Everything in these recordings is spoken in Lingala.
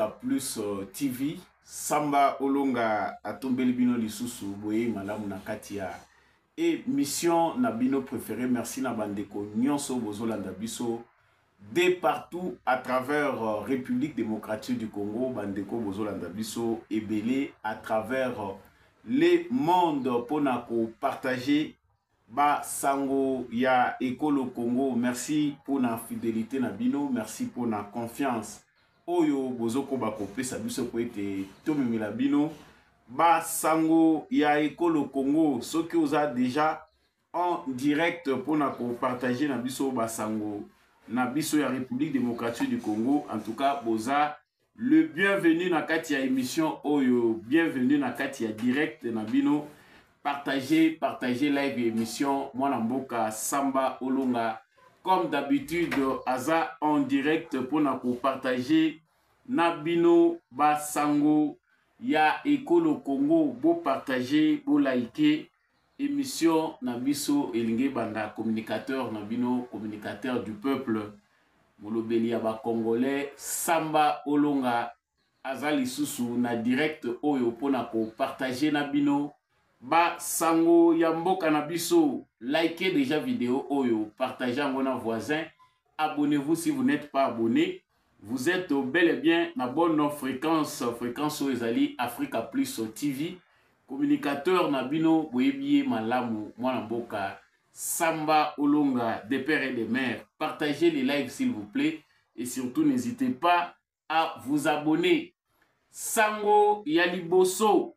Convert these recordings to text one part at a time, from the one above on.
ya plus uh, tv samba olonga atombeli bino lisusu boyei malamu na kati ya emission na bino préféré merci na bandeko nyonso bozolanda biso de partout à travers uh, république démocratique du congo bandeko bozolanda biso ebele à travers uh, le monde mpona kopartage Ba sango ya ekolo Congo, merci pona fidelite na bino, merci pona confiance oyo bozokoba kopesa biso po ete tomemela bino ba sango ya ekolo Congo. Soki oza deja en direct pona kopartage na biso ba sango na biso ya Republique Democratique du Congo, en tout cas boza le bienvenu na kati ya émission oyo bienvenu na kati ya direct na bino partager partager live ya émission mwana mboka samba olonga comme d'habitude aza en direct mpona kopartage na bino basango ya ekolo congo bopartage bolaike Emission na biso elingi ebanda communicateur na bino, communicateur du peuple, molobeli ya ba Congolais, Samba Olonga aza lisusu na direct oyo mpo na ko partager na bino ba sango ya mboka na biso. Likez déjà video oyo, partagez yango na voisin. Abonnez-vous si vous n'êtes pas abonné. Vous êtes bel et bien na bonne fréquence, fréquence oyo ezali Africa Plus TV. Communicateur na bino boyebi ye malamu mwana mboka Samba Olonga de père et de mère. Partagez les lives s'il vous plaît et surtout n'hésitez pas à vous abonner. Sango ya liboso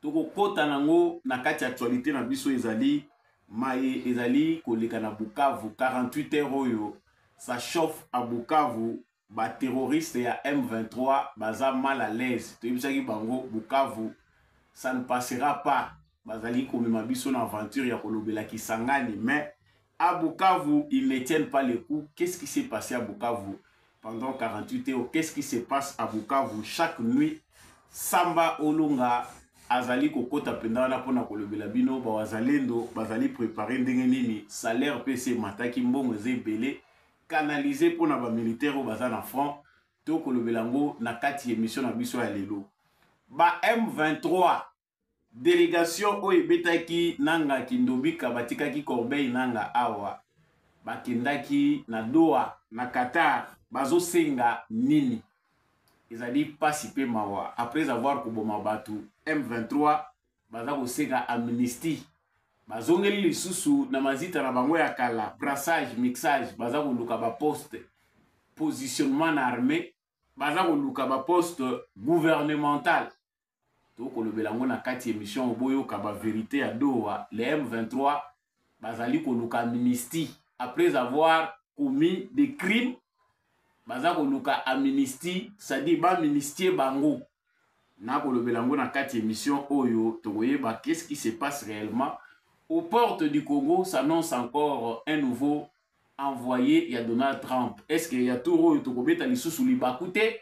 tokokota nango na kati ya actualité na biso ezali maye ezali koleka na bukavu 48 heure oyo ça chauffe à bukavu baterroriste ya m23 baza mal à l'aise toyebisaki bango bukavu ça ne passera pas bazali komema biso na aventure ya kolobela kisangani mais À Bukavu, ils ne tiennent pas le coup. Qu'est-ce qui s'est passé à Bukavu pendant 48 heures Qu'est-ce qui se passe à Bukavu chaque nuit Samba Olunga azali kokota mpenza wana mpona kolobela bino bawazalendo bazali prépare ndenge nini salaire mpe se mataki mbongo eza ebele canalise mpona bamilitaire oyo baza na front to kolobela yango na kati ya émission na biso ya lelo ba m23 delegation oyo ebetaki nanga kindobika batikaki corbeille nanga awa bakendaki na doha na qatar bazosenga nini ezali mpasi mpe mawa après avoir koboma bato m23 baza kosenga amnistie bazongeli lisusu na mazita na bango ya kala brassage mixage baza koluka baposte positionnement na armée baza koluka baposte gouvernemental tokolobela yango na kati ya emission boyoka ba verite ya doha le m23 bazali koluka amnistie après avoir commis des crimes baza koluka amnistie c'est-à-dire baministie bango nakolobela yango na kati ya émission oyo tokoyeba qu'est-ce qui se passe réellement aux portes du congo s'annonce encore un nouveau envoyé ya donald trump est ce que ya tour oyo tokobeta lisusu libaku te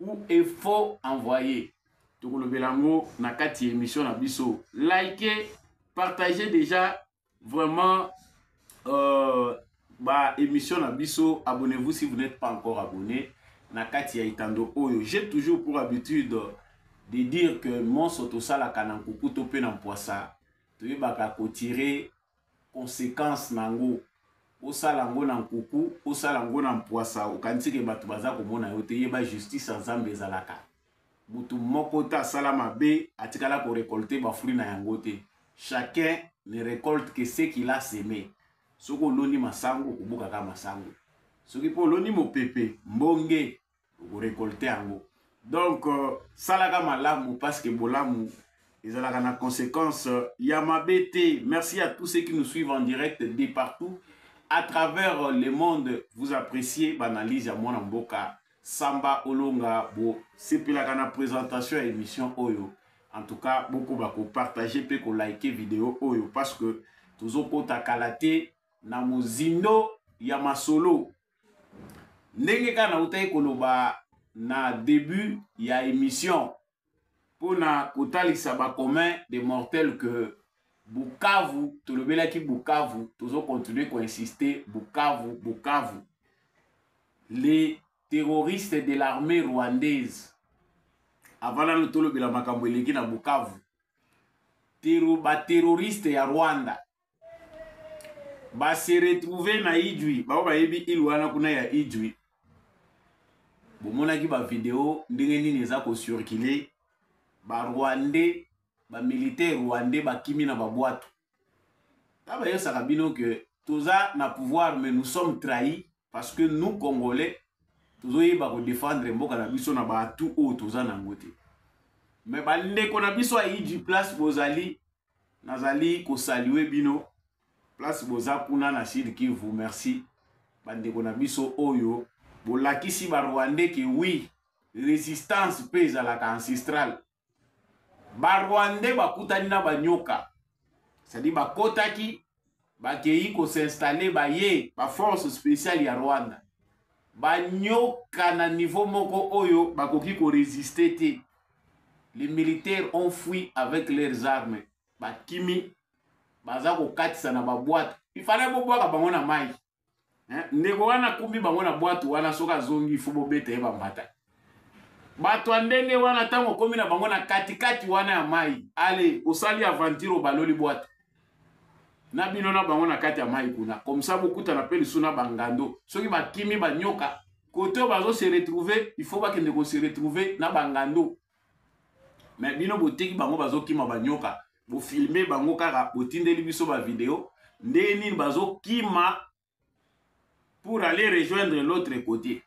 ou est faux envoyé tokolobela yango na kati ya émission na biso like partage déjà vraiment euh, ba émission na biso abonnez-vous si vous n'êtes pas encore abonné na kati ya etando oyo j'ai toujours pour habitude de dire que monso tosalaka na nkuku to mpe na mpwasa toyebaka kotire consequence na yango osala yango na nkuku osala yango na mpwasa okanisi ke bato baza komona yo te yeba justice ya nzambe ezalaka moto moko te asala mabe atikala korekolte bafruit na yango te chacun ne recolte que ce qu'il a seme soki oloni masango okobukaka masango soki mpe oloni mopepe mbonge okorekolte yango donc euh, salaka malamu parce que bolamu ezalaka na conséquence euh, ya mabe te merci à tous ceux qui nous suivent en direct de partout à travers euh, le monde vous appréciez banalyse ya mwana mboka samba olonga bosepelaka na présentation ya émission oyo en tout cas bokoba kopartage mpe kolike video oyo parce que tozokota kala te na mozindo ya masolo ndenge kaka nautaki koloba na début ya émission mpo na kotalisa bacommun de mortel que bukavu tolobelaki bukavu tozo continue koinsiste bukavu bukavu les terroristes de l'armée rwandaise avant nano tolobela makambo eleki na bukavu baterroriste ya rwanda base retrouve na idjui bango bayebi ile wana kuna ya idjui bomonaki bavideo ndenge nini eza kocircule barwandais bamilitaire rwandais bakimi na babwato ta bayosaka bino ke toza na pouvoir mais nous sommes trahis parce que nous congolais tozoyeba kodefendre mboka na biso na baatu oyo toza na yango te mais bandeko na biso aidi place bozali nazali kosalue bino place boza kuna na sud kivu merci bandeko na biso oyo bolakisi barwandais ke wi resistance mpe ezalaka ancestrale barwandais bakutani na banyoka cestadi bakotaki bakeyi ko s'installer baye ba force spéciale ya Rwanda banyoka na niveau moko oyo bakoki ko résister te les militaires ont fui avec leurs armes bakimi baza kokatisa na baboite ifale bobwaka bango na mai eh, ndeko wana akumbi bango na bwatu wana soki azongi ifo bobeta ye bambata bato ya ndenge wana ntango okomi na bango na katikati wana ya mai ale osali aventure obaloli bwatu na bino na bango na kati ya mai kuna komsa bokutana mpe lisu na bangando soki bakimi banyoka kote oyo bazo se retrouve il faut bakende ko se retrouve na bangando me bino boteki bango bazokima banyoka bofilme bango kaka botindeli biso bavideo ndenge nini bazokima pour aller rejoindre l'autre côté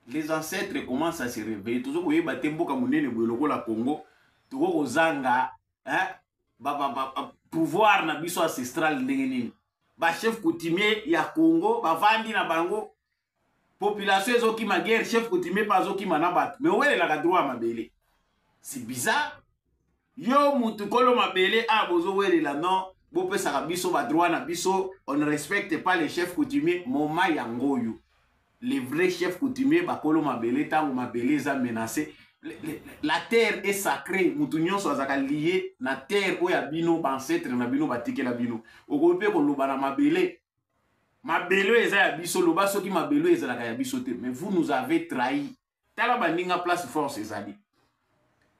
les ancêtres commence à se réveiller tozo koyeba te mboka monene boye lokola congo toko kozanga hein, ba, ba, ba, ba, pouvoir na biso ancestral ndenge nini bachef coutumier ya congo bavandi na bango population ezokima guerre chef coutumier mpe azokima na bato me owelelaka droit ya mabele c'est bizarre yo mutu kolo mabele a ah, bozowelela non bopesaka biso badroit na biso on ne respecte pas les chefs coutumier moma yango oyo les vrais chefs coutumier bakolo mabele ntango mabele eza menace la terre est sacrée mutu nyonso azalaka lie na terre oyo ya bino baancetre na bino batikela bino okoki mpe koloba na mabele mabele eza ya biso loba soki mabele ezalaka ya biso te mais vous nous avez trahi tala baninga place force ezali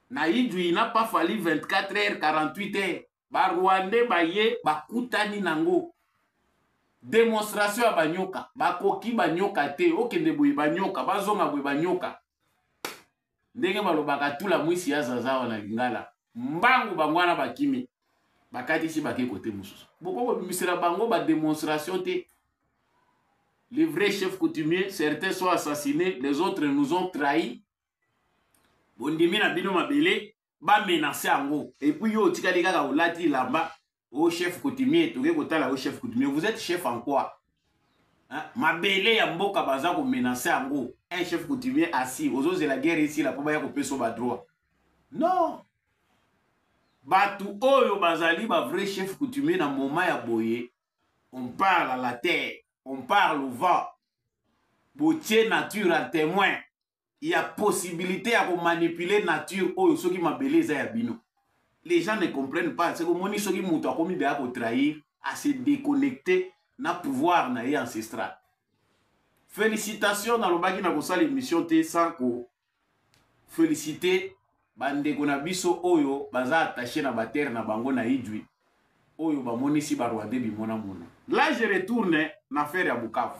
na idui na pa fali 24 heures 48 heures barwandais baye bakutani nango demonstration ya banyoka bakoki banyoka te okende boye banyoka bazonga boye banyoka ndenge balobaka tula mwisi ya zazawa na lingala mbangu bango wana bakimi bakatisi bake kote mosusu boko kobimisela bango bademonstration te les vrais chefs coutumiers certains sont assassinés les autres nous ont trahis bondimi na bino mabele ba menace yango et puis yo otikali kaka olati lamba o oh, chef coutumier toke kotala yo oh, chef coutumier vous êtes chef en quoi hein? mabele ya mboka baza ko menace yango un chef coutumier assis ozozela guerre esila mpo baya kopesa ba droit non bato oyo bazali ba vrai chef coutumier na moment ya boye on parle à la terre on parle au vent botie nature à témoin ya possibilité ya komanipule nature oyo soki mabele eza ya bino les gens ne comprennent pas seke omoni soki moto akomi deya kotrahir ase déconnecte na pouvoir na ye ancestral félicitation nalobaki na kosala émission te sans ko félicite bandeko na biso oyo baza attaché na batere na bango na idwi oyo bamonisi barwandais bimonamona là je retourne na affaire ya bukavu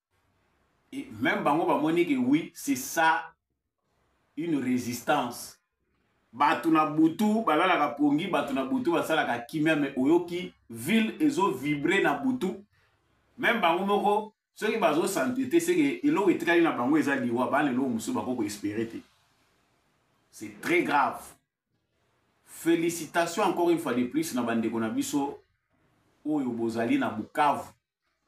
Et même bango ba moni que oui, c'est ça une résistance. Batu na butu balalaka pongi, batu na butu basalaka kimia mais oyoki ville ezo vibrer na butu. Même bango moko soki bazo s'entêter c'est que eloko etikali na bango eza liwa ba lelo musu bako ko espérer te. C'est très grave. Félicitations encore une fois de plus na bandeko na biso oyo bozali na Bukavu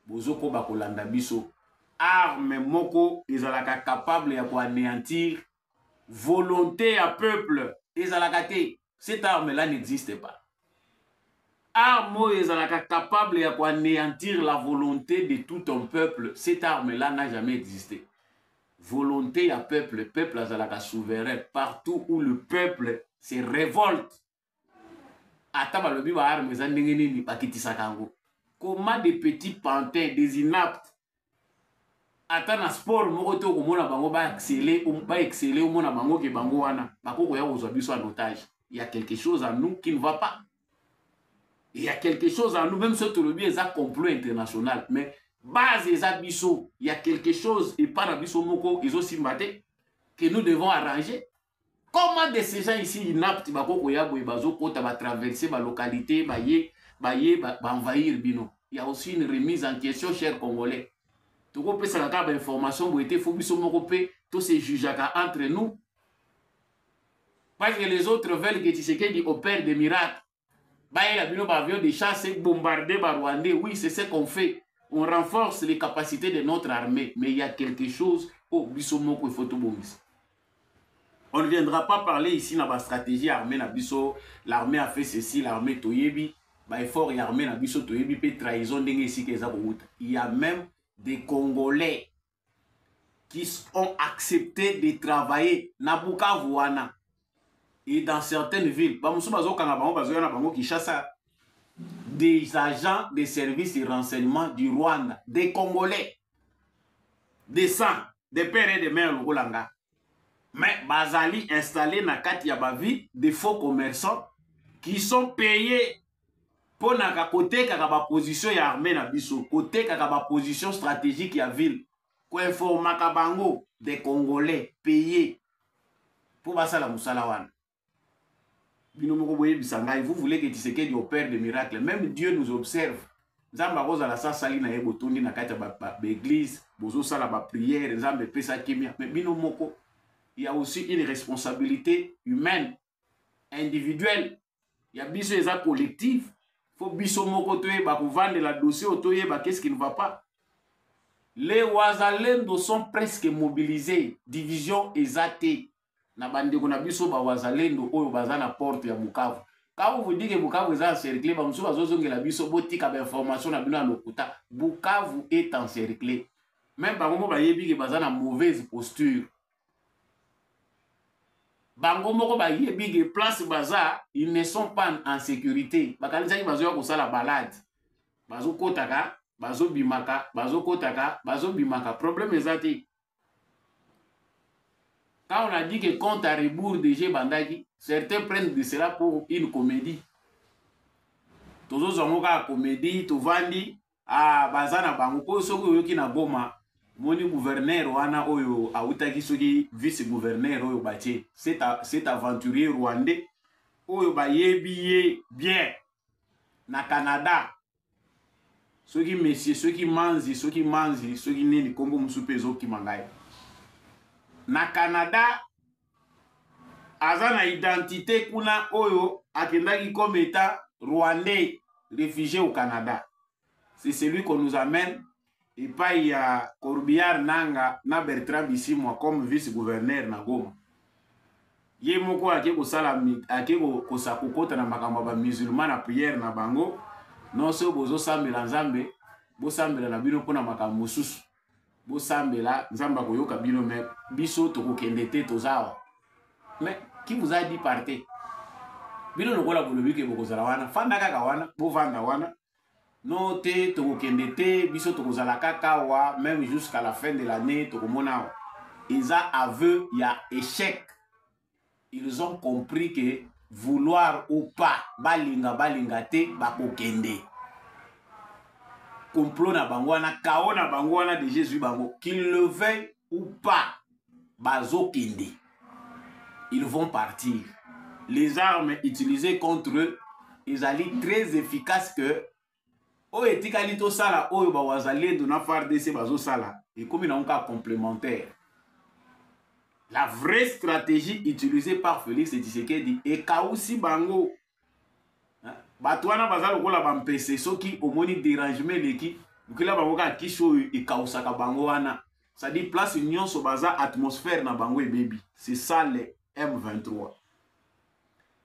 bozokoba kolanda biso arme moko ezalaka capable ya koanéantir volonté ya peuple ezalaka te cette arme là n'existe pas arme oyo ezalaka capable ya koanéantir la volonté de tout un peuple cette arme là n'a jamais existé volonté ya peuple peuple azalaka souverain partout où le peuple se révolte ata balobi ba arme eza ndenge nini bakitisaka yango comment des petits pantins des inaptes ata na sport moko te okomona bango baexcele um, baexcele omona bango ke bango wana bakokoya kozwa biso en otage il y a quelque chose à nous qui ne va pas il y a quelque chose à nous même soki tolobi eza complot international mais base eza biso il y a quelque chose epai na biso moko ezosimba te que nous devons arranger comment de ces gens ici inapte bako koya boye bazokota batraverse balocalité baye baye baenvahir ba bino ya aussi une remise en question cher congolais tokopesaka kaka bainformation boye te fo biso moko mpe tose jugeaka entre nous parce que les autres veulent que tshisekedi opère des miracles bayela bino ba avion de chasse ebombarde ba rwandais oui c'est ce qu'on fait on renforce les capacités de notre armée mais il y a quelque chose oyo oh, biso moko ifo tobongisa on ne viendra pas parler ici na bastratégie armée na biso l'armée a fait ceci l'armée toyebi baeffort ya armée na biso toyebi mpe trahison ndenge esika eza kowuta il y a même des congolais qui ont accepté de travailler na bukavu wana et dans certaines villes bamosusu bazokanga bango bazoya na bango kinshasa des agents des services de renseignement du rwanda des congolais des sang des pères et des mères lokola nga mais bazali installé na kati ya bavie des faux commerçants qui sont payés mpo na kotekaka baposition ya arme na biso kotekaka baposition stratégique ya ville koinformaka bango de congolais paye mpo basala mosala wana bino moko boyebisa ngai vous voulez que tisekedi opère de miracle même dieu nous observe nzambe akozala sa asali na ye botondi na kati ya baeglise bozosala bapriere nzambe epesa kimia me bino moko ya aussi une responsabilité humaine individuelle ya biso eza collective fo biso moko toyeba kovandela dossier oyo toyeba qu'est-ce qui ne va pas les wazalendo sont presque mobilisés division eza te na bandeko na biso bawazalendo oyo baza na porte ya bukavu quand vous dites que bukavu eza encercle bamosusu bazozongela biso botika bainformation na bino ya lokuta bukavu est encercle meme bango mo bayebi ke baza na mauvaise posture bango moko bayebi ke place baza ils ne sont pas en sécurité bakanisaki bazoya kosala balade bazokotaka bazobimaka bazokotaka bazobimaka problème eza te quand on a dit que compte à rebours déjà ebandaki certains prennent de cela pour une comédie tozozwa yango kaka comédie tovandi ah baza na bango mpo soki oyoki na goma moni gouverneur wana oyo awutaki soki vice gouverneur oyo batie cet aventurier rwandais oyo bayebi ye bien na canada soki mesie soki manzi soki manzi soki nini nkombo mosusu mpe ezokima ngai na canada aza na identité kuna oyo akendaki comme état rwandais réfugié au Canada c'est celui qu'on nous amène epai ya Corbillard Nanga na Bertrand Bisimwa comme vice-gouverneur na Goma ye moko ake kosala ake kosa kokota na makambo ya bamusulman na priere na bango nonso bozosambela nzambe bosambela na bino mpo na makambo mosusu bosambela nzambe akoyoka bino me biso tokokende te toza awa me ki vous a dit parte bino lokola bolobi ke bokozala wana fanda kaka wana bovanda wana no te tokokende te biso tokozala kaka awa meme jusqu'à la fin de l'année tokomona awa eza aveu ya échec ils ont compris que vouloir ou pas balinga balinga te bakokende complot na bango wana kao na bango wana deja ezwi bango qu'il le veuille ou pas bazokende ils vont partir les armes utilisées contre eux ezali très efficace que oyo etikali tosala oyo bawazalendo na fardc bazosala ekomi nango kaka complémentaire la vraie stratégie utilisée par félix tshisekedi ekausi bango bato wana baza lokola bampese soki omoni derangement eleki lukela bango kaka kisi oyo ekausaka bango wana cestadi place nyonso baza atmosphère na bango ebebi c'est ça le m23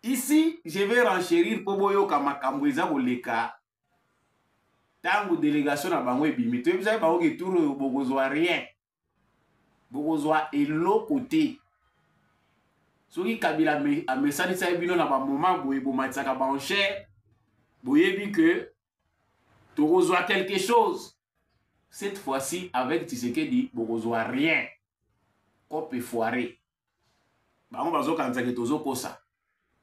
ici je vais renchérir mpo boyoka makambo eza koleka ntango délégation na bango ebimi toyebisaki bango ke tour oyo bokozwa rien bokozwa eloko te soki kabila amesanisaki bino na bamoma boye bomatisaka banchere boyebi ke tokozwa quelque chose cette fois-ci avec tisekedi bokozwa rien cope foire bango bazokanisa ke tozokosa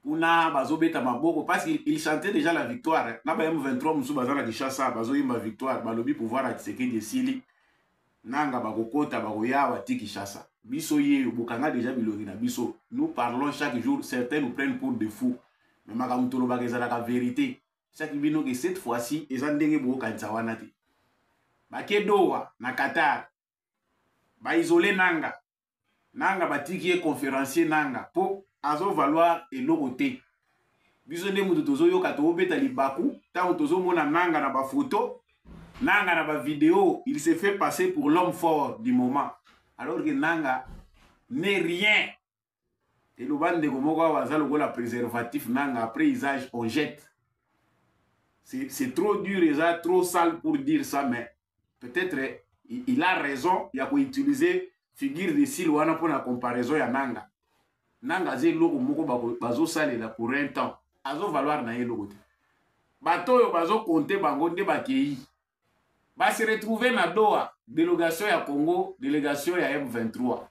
kuna bazobeta maboko parce il chantait déjà la victoire hein. na ba m23 mosusu baza na kinshasa bazoyemba victoire balobi pouvoir ya kisekedi esili nanga bakokota bakoya awa ti kinshasa biso yeyo bokanga déjà bilongi na biso nous parlons chaque jour certains nous prennent pour de fous me makambo tolobaka ezalaka verité saki bino ke cette fois-ci eza ndenge bokokanisa wana te bakedowa na qatar ba isoler nanga nanga batiki ye conférencier nanga mpo azo valoir eloko te biso nde moto tozoyoka tobeta libaku ntango tozomona nanga na bafoto nanga na bavideo il se fait passer pour l'homme fort du moment alors que nanga n'est rien eloba ndeko moko awa aza lokola préservatif nanga après usage on jette c'est trop dur eza trop sale pour dire ça mais peut-être il a raison ya koutiliser figure de sile wana mpo na comparaison ya nanga nanga aza eloko moko bazosalela pour un temps azo valoir na ye eloko te bato oyo bazokonte bango nde bakei ba se retrouver na Doha delegation ya Congo delegation ya M23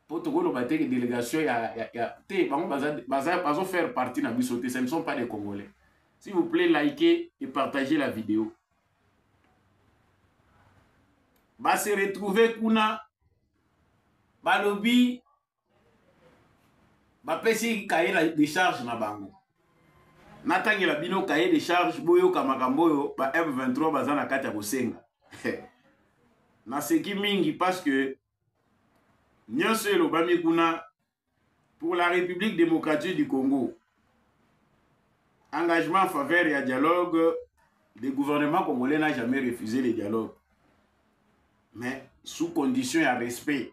po tokoloba te delegation ya, ya, ya te bango baza, baza, bazo faire partie na biso te ce ne sont pas des Congolais s'il vous plaît likez et partagez la vidéo ba se retrouver kuna balobi bapesi kaye na décharge na bango natangela bino kaye décharge boyoka makambo oyo ba m23 baza na kati ya kosenga naseki mingi parce que nyonso elobami kuna pour la république démocratique du congo engagement en faveur ya dialogue le gouvernement congolais n'a jamais refusé le dialogue mais sous condition ya respect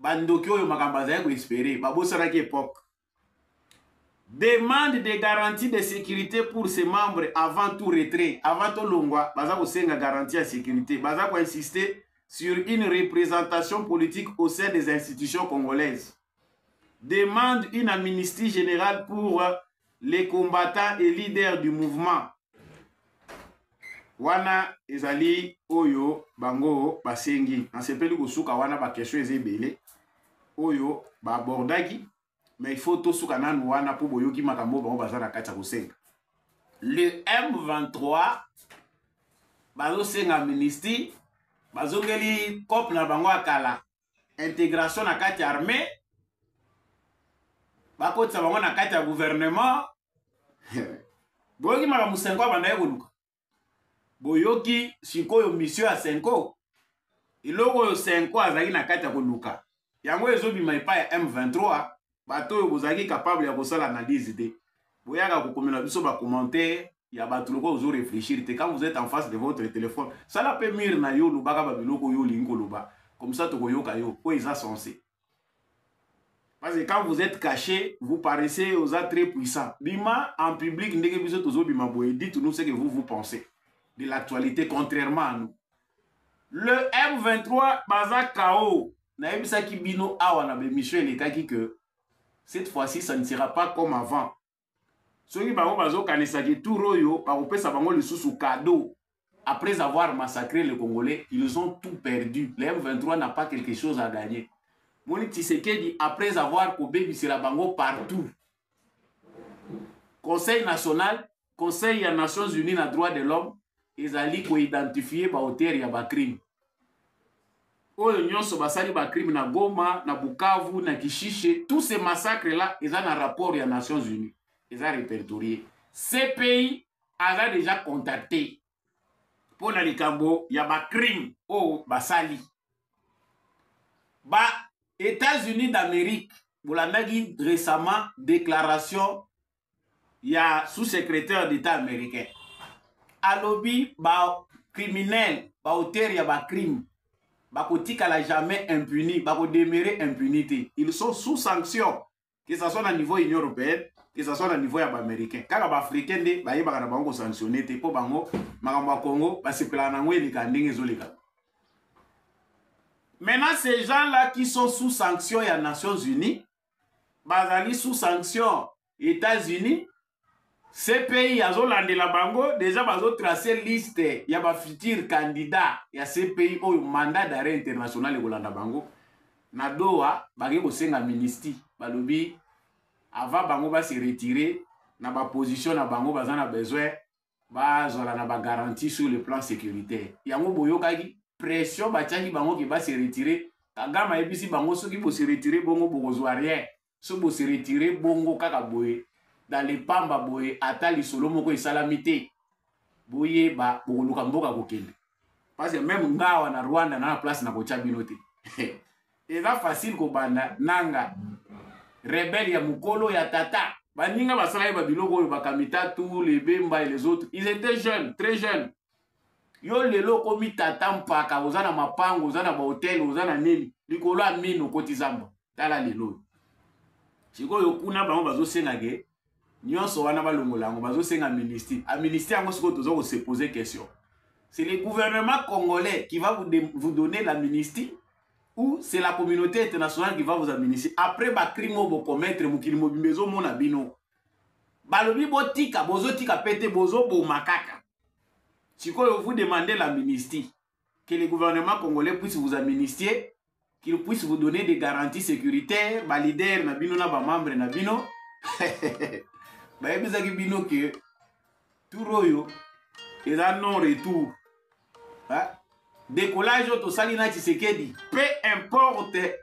bandoki oyo makambo azali koespere babosanaki epoque demande de garantie de sécurité pour ses membres avant tout retrait avant tolongwa baza kosenga garantie ya sécurité baza koinsiste sur une représentation politique au sein des institutions congolaises demande une amnistie générale pour le combattant et leader du mouvement wana ezali oyo bango basengi nasepeli kosuka wana bakestion eza ebele oyo baabordaki mais il faut tosuka nanu wana mpo boyoki makambo oyo bango baza na kati ya kosenga le m23 bazosenga amnistie bazongeli cope na bango ya kala integration na kati ya armée bakotisa bango na kati ya gouvernement boyoki makambo senko abandaki koluka boyoki sikoyo misio ya senko eloko oyo senko azalaki na kati ya koluka yango ezobima epai ya m23 bato oyo bozalaki capable ya kosala analyse te boyaka kokomela biso bacommentaire ya bato lokola ozo réfléchir te quand vous êtes en face de votre téléphone sala mpe mire na yo olobaka babiloko oyo olingi koloba comme ça tokoyoka yo oyo eza sensé parce que quand vous êtes caché vous paraissez oza très puissant bima en public ndenge biso tozobima boye dites nous ce que vous vous pensez de l'actualité contrairement à nous le M23 baza KO nayebisaki bino awa na bemission elekaki que cette fois-ci ça ne sera pas comme avant soki bango bazokanisaki tour oyo bakopesa bango lisusu cadeau après avoir massacré les Congolais, ils ont tout perdu. Le M23 n'a pas quelque chose à gagner. Moni Tshisekedi, après avoir kobebisela bango partout, conseil national conseil ya nations unies na droit de l'homme ezali koidentifie baauteur ya bacrime oyo nyonso basali bacrime na goma na bukavu na kishishe tout ce massacre là eza na rapport ya nations unies eza repertorie cpi aza déjà contacte mpo na likambo ya bacrime oyo basali ba États-Unis d'Amérique bolandaki récemment déclaration ya sous-secrétaire d'État américain alobi ba criminel ba auteur ya ba crime bakotikala jamais impuni bakodemere impuni te ils sont sous sanction que ça soit na niveau union européenne que ça soit na niveau ya baaméricain kaka baafricain nde bayebaka na bango kosanctionne te mpo bango makambo ya congo basepelaka na yango eleka ndenge ezoleka maintenant ces gens là qui sont sous sanction ya nations unies bazali sous sanction états-unis CPI azolandela bango deja bazotrace liste ya bafuture candidat ya CPI oyo mandat d'arrêt international ekolanda bango na Doha bake kosenga ministi balobi avant bango base retire na baposition na bango baza na besoin bazala na bagarantie sur le plan sécuritaire yango boyokaki pression batiaki bango ke base retire kagame ayebisi bango soki bose retire bongo bokozwa rien so bo se retirer bongo kaka boye dans le pamba boye ata lisolo moko esalami te boyeba bokoluka mboka kokende parce que meme ngawa na rwanda na na place na kotya bino te eza facile kobanda nanga rebele ya mokolo ya tata baninga basalaki babiloko oyo bakamitatu lebemba et les autres ils étaient jeunes très jeunes yo lelo okomi tata mpaka oza na mapango oza na bahotel oza na nini likolo ya mine okoti zamba tala lelo oyo sikoyo kuna bango bazosenga ke nyonso wana balongola yango bazosenga ministre aministre yango sikoyo toza kosepose question c'est le gouvernement congolais qui va vous, de, vous donner la ministre ou c'est la communauté internationale qui va vous administrer après bacrime oyo bokomettre mokili mobimba ezomona bino balobi botika bozotika mpe te bozoboma kaka sikoyo vous demandez la ministie que le gouvernement congolais puisse vous amnistier qu'il puisse vous donner des garanties sécuritaires balider na bino na bamembre na bino bayebisaki bino ke tour oyo eza non retour decollage oyo tosali na tshisekedi peu importe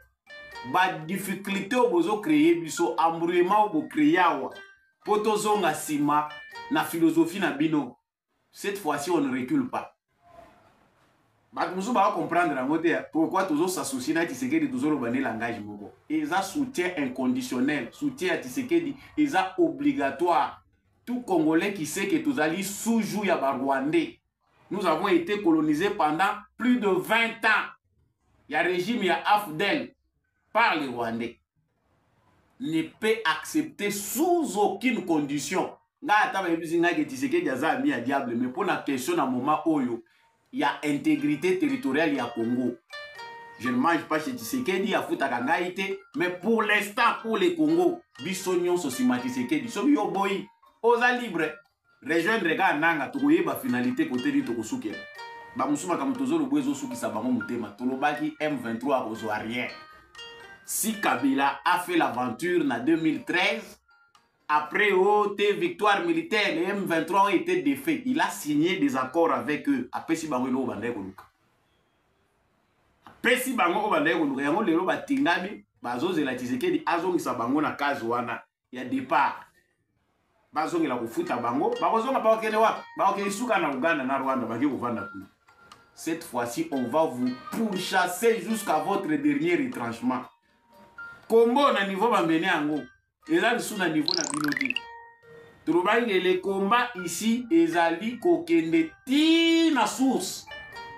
badifficulté oyo bozocreye biso embrouillement oyo bocreye awa mpo tozonga nsima na philosophie na bino cette fois-ci on ne recule pas bato mosusu baka comprendre yango te pourquoi tozo s'associe na tisekedi tozoloba nde langage moko eza soutien inconditionnel soutien ya tisekedi eza obligatoire tout congolais qui sait que tozali sous jour ya barwandais nous avons été colonisés pendant plus de 20 ans ya régime ya afdel par les rwandais ne peut accepter sous aucune condition ngai ata bayebisi ngai ke tisekedi aza ami ya diable mais mpo na question na moment oyo ya intégrité territoriale ya congo je ne mange pas chez tisekedi afutaka ngai te mais pour l'instant pour le congo biso nyonso nsima tisekedi soki yo oboyi oza libre rejoindre kaka nanga tokoyeba finalité kote nini tokosukela bamosusu makambo tozoloba ezosukisa bango motema tolobaki m23 akozwa rien si kabila a fait l'aventure na 2013 après oh te victoire militaire le m23 oyo ete défait il a signé des accords avec eux apesi bango eloko bandaki koluka apesi bango oyo bandaki koluka yango lelo batingami bazozela tshisekedi azongisa bango na kazi wana ya départ bazongela kofuta bango bakozonga bakokende wapi bakokende suka na uganda na rwanda baki kovanda kuna cette fois-ci on va vous pourchasser jusqu'à votre dernier retranchement kombo na niveau bamene yango eza lisusu na niveau na bino te tolobaki ke le combat ici ezali kokende ti na source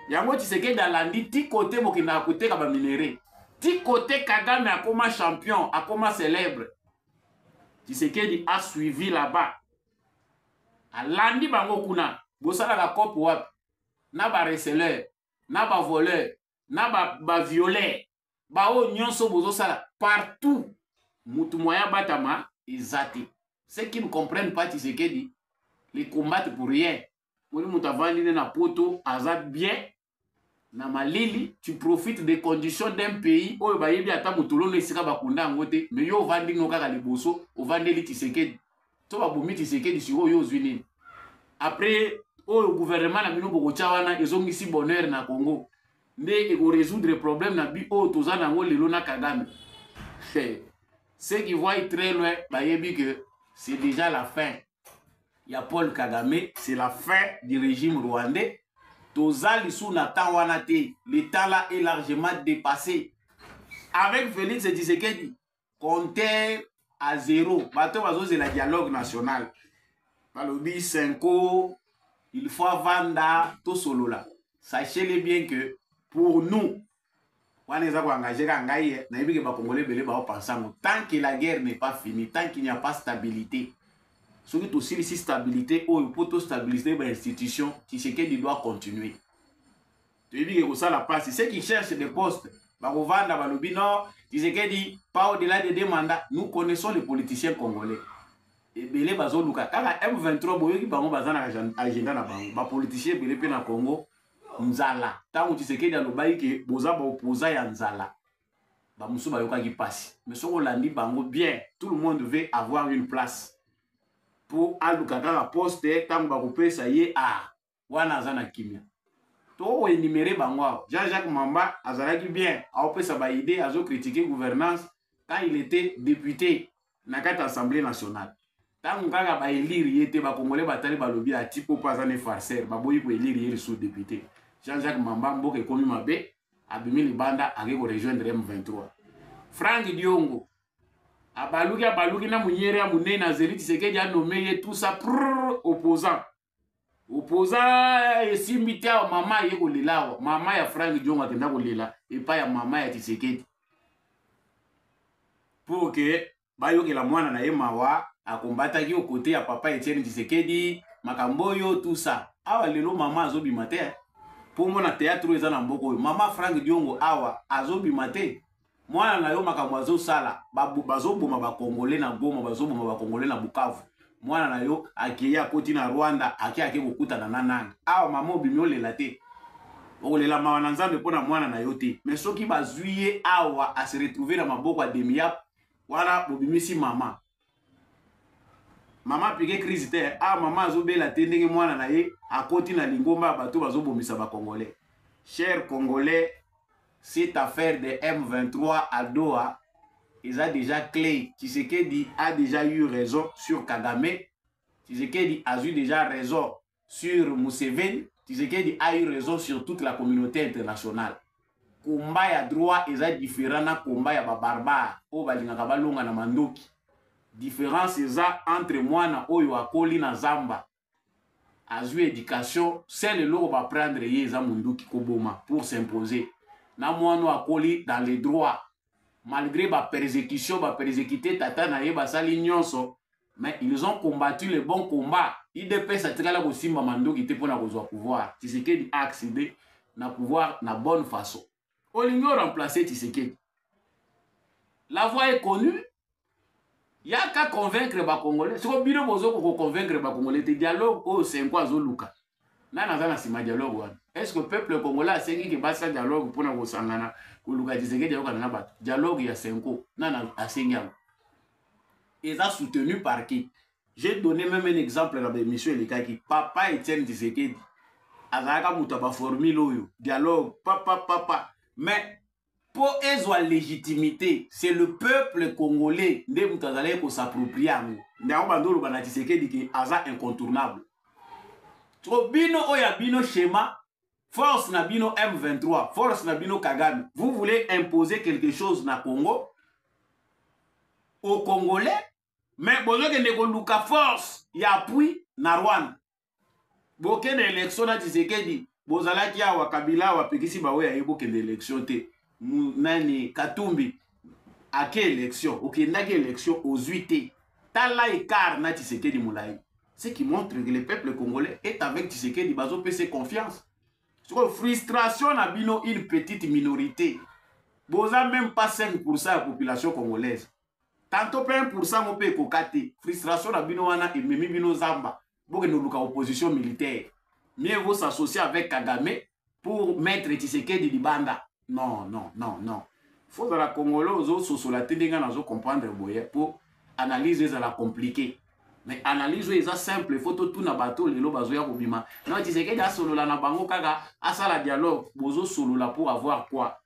yango tisekedi alandi ti kote bokendaka koteka baminere ti kote kagame akoma champion akoma célèbre tisekedi a suivi là-bas alandi bango kuna bosalaka cope wapi na bareceleur na bavoleur na bavioleur ba baoyo nyonso bozosala partout motu moya batama eza te ce qui ne comprennent pas tisekedi les combattent pour rien moni moto avandi nde na poto aza bien na malili tu profites des conditions d'un pays oyo bayebi ata motolono esika bakunda yango te mais yo ovandi no kaka liboso ovandeli tisekedi to babomi tisekedi sikoyo yo ozwi nini après oyo gouvernement na bino bokotya wana ezongisi bonheur na congo nde ekoresoudre problème na bi oyo toza na yango lelo na kagame ceux qui voient très loin bayebi que c'est déjà la fin ya paul kagame c'est la fin du régime rwandais toza lisusu na temps wana te l'état là est largement dépassé avec félix tshisekedi compter à zéro bato bazozela dialogue national balobi cinco il faut avanda tosolola sachez-le bien que pour nous wana eza koengage kaka ngai ye nayebi ke bakongole ebele baopansa yango tant que la guerre n'est pas fini tant qu'il n'y a pas stabilité soki tosilisi stabilité oyo mpo tostabilise bainstitution tshisekedi doit continuer toyebi ke kosala mpasi ce qui cherche de poste bakovanda balobi no tshisekedi pas au delà de deux mandats nous connaissons les politiciens congolais ebele bazoluka kaka m23 boyoki bango baza na agenda na bango bapoliticien ebele mpe na congo nzala ntango tshisekedi alobaki ke boza baopoza ya nzala bamosusu bayokaki mpasi mais soki olandi bango bien tout le monde veut avoir une place mpo aluka kaka poste ntango bakopesa ye a ah, wana aza na kimia tokoenimere bango awa jean jacques mamba azalaki bien aopesa baide azokritike gouvernance quand il était député na kati ya assemblée nationale ntango kaka baelire ye te bakongole batali balobi atipo mpo aza ne farceur baboyi koelire ye lisusu député jean-jacques mamba mboka ekomi mabe abimi libanda ake korejoindre m23 frank diongo abaluki abaluki na monyere ya monene azeli tisekedi anome ye tusa prr opposant opoza eh, esimbi te awa mama aye kolela awa mama ya frank jongo akenda kolela epai ya mama ya tisekedi pour ke bayokela mwana na ye mawa akombataki o kote ya papa etienne tisekedi makambo oyo tusa awa lelo mama azobima te mpo mona teatre oyo eza na mboka oyo mama frank diongo awa azobima te mwana na yo makambo azosala bazoboma bakongole na goma bazoboma bakongole na bukavu mwana na yo akei akoti na rwanda ake ake kokutana na nani awa mama obimi olela te okolela mawa na nzambe mpo na mwana na yo te me soki bazwi ye awa aseretrouve na maboko ya demiap wana bobimisi mama mama apike crise te a ah, mama azobela te ndenge mwana na ye akoti na lingomba ya bato bazobomisa bacongolais cher congolais cette affaire de m23 à doha eza déjà clé tshisekedi a déjà eu raison sur kagame tshisekedi azwi déjà raison sur Museveni, Tshisekedi a eu raison sur toute la communauté internationale. Combat ya droit eza différent na combat ya ba barbare oyo balingaka balonga na mandoki. Différence eza entre mwana oyo akoli na zamba azwi éducation seul eloko ba prendre ye eza munduki koboma pour s'imposer na mwana akoli dans les droits malgré ba persécution ba persécuter tata na ye basali nyonso mais ils ont combattu le bon combat idps atikala kosimba manduki te mpo na kozwa pouvoir tisekedi a accéder na pouvoir na bonne façon olingi oremplace tisekedi la voix est connue yaka convaincre ba congolais soko bino bozo ko convaincre ba congolais te dialogue oyo senko azo luka nani aza na sima dialogue wana est ce que peuple congolais asengi ke basa dialogue pona kosangana koluka tshisekedi ayokana na bato dialogue ya senko nani asengi yango eza soutenu par qui j'ai donné même un exemple na baémission elekaki papa etienne tshisekedi azalaka moto ya baformule oyo dialogue papa papa mais mpo ezwa legitimité c'est le peuple congolais nde moto azalaki kosaproprie yango nde yango bando oloba na tisekedi ke aza incontournable to bino oyo ya bino schéma force na bino m23 force na bino kagame vous voulez imposer quelque chose na congo au congolais mais bozokende koluka force ya appui na rwanda bokende election na tshisekedi bozalaki awa kabila awa apekisi baoyo aye bokende election te nani katumbi ake election okendaki election ozwi te tala ekart na tshisekedi molai ce qui montre que le peuple congolais est avec tshisekedi bazopesa confiance sikoyo frustration na bino une petite minorité boza même pas 5 pourcent ya population congolaise tanto mpe 1 pourcent mo mpe ekoka te frustration na bino wana ememi bino zamba bokende oluka opposition militaire mieux vaut s'associer avec kagame pour maître tshisekedi libanda non non non non fo ozala congolais ozososola te ndenge nazo comprendre boye mpo analyse ezala compliqué mais analyse oyo eza simple fo totuna bato lelo bazoya kobima non tshisekedi asolola na bango kaka asala dialogue bozosolola pour avoir quoi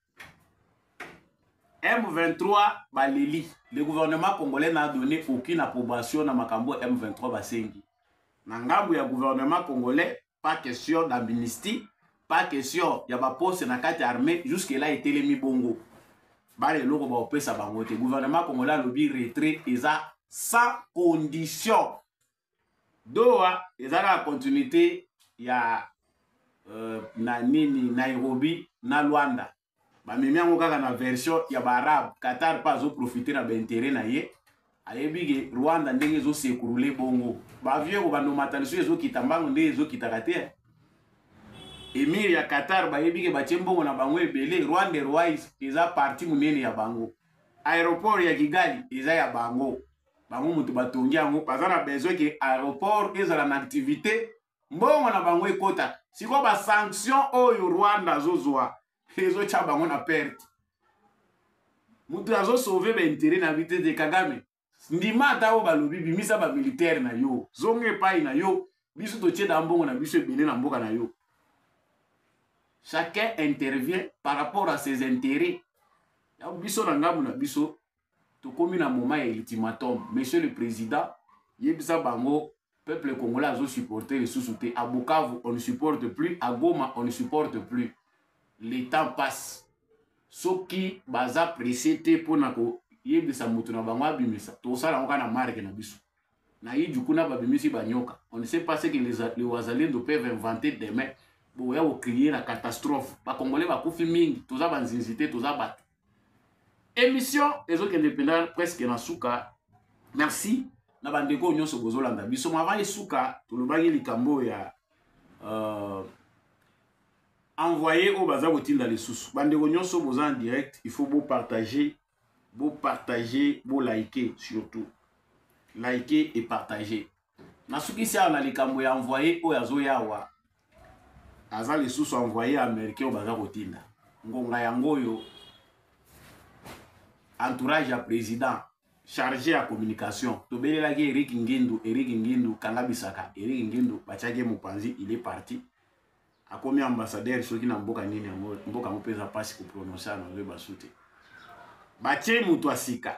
M23 baleli le gouvernement congolais n'a donné aucune approbation na makambo M23 basengi na ngambo ya gouvernement congolais pas question d'amnistie pas question ya baposte na kati ya armée jusque là etelemi bongo bana eloko baopesa bango te gouvernement congolais alobi retrait eza sans condition doha eza kaka continuité ya euh, na nini nairobi na luanda bamemi yango kaka na version ya baarabe qatar mpe azoprofite na baintere na ye ayebi ke rwanda ndenge ezosekurule bongo bavio ekobanda omata lisusu ezokita mbango nde ezokitaka te emir ya qatar bayebi ke batie mbongo na bango ebele rwanda airways eza parti monene ya bango aéroport ya kigali eza ya bango bango moto batongi yango baza na besoin ke aéroport ezala na activité mbongo na bango ekota sikoyo basanction oyo rwanda azozwa ezotya bango na perte moto azosauve baintere na bite te kagame ndima ata oyo balobi bimisa bamilitaire na yo zonga epai na yo biso totie da mbongo na biso ebele na mboka na yo chacun intervient par rapport à ses intérêts ya biso na ngambo na biso tokomi na moment ya ultimatum monsieur le président yebisa bango peuple congolais azo supporter lisusu te à bukavu on ne supporte plus à goma on ne supporte plus le temps passe soki baza presse te mpo na koyebisa moto na bango abimisa tosala yango kaka na marke na biso na iju kuna babimisi banyoka on ne sait pas ce que les, les wazalendo peuvent inventer demain boya kokrie na catastrophe bakongole bakufi mingi toza banzinzi te toza bato Emission ezokende mpenza presque na suka. Merci na bandeko oyo nyonso bozolanda biso. Mava esuka tolobaki likambo oyo ya uh, envoye oyo baza kotinda lisusu. Bandeko nyonso boza en direct, il faut bopartage, bopartage, bolike surtout. Like et partage. nasukisi awa na likambo ya envoye oyo azoya awa aza lisusu envoye ya américain oyo baza kotinda ngonga yango oyo entourage ya président chargé ya communication tobelelaki erik ngindu erik ngindu kanga bisaka erik ngindu batiaki mopanzi il est parti akomi ambassadeur soki na mboka nini yango mboka yango mpe eza mpasi koprononce yango ebasu te batie moto ya sika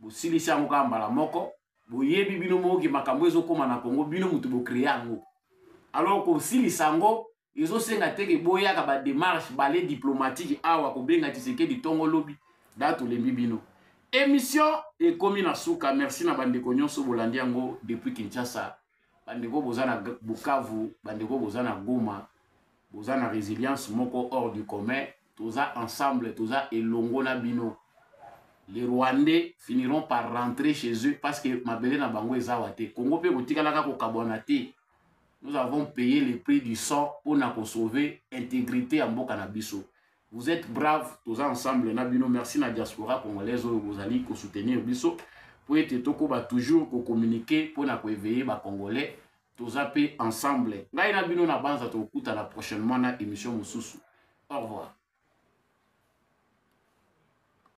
bosilisi yango kaka mbala moko boyebi bino moko ke makambo ezokóma na kongo bino moto bocreye yango alors kosilisa yango ezosenga te ke boyaka bademarche bale diplomatique awa kobenga tisekedi ntongo lobi da tolembi bino émission ekomi na suka merci na bandeko nyonso bolandi yango depuis kinshasa bandeko boza na bukavu bandeko boza na goma boza na résilience moko hors du commun toza ensemble toza elongo na bino les rwandais finiront par rentrer chez eux parce que mabele na bango ezawa te congo mpe kotikalaka kokabwana te nous avons payé le prix du sang mpo na kosauve intégrité ya mboka na biso Vous êtes brave, toza ensemble na bino. Merci na diaspora congolaise oyo bozali ko soutenir biso po ete tokoba toujours ko communiquer po na ko éveiller ba congolais. Toza pe ensemble. Ngai na bino na banza tokutana prochainement na émission mosusu. Au revoir.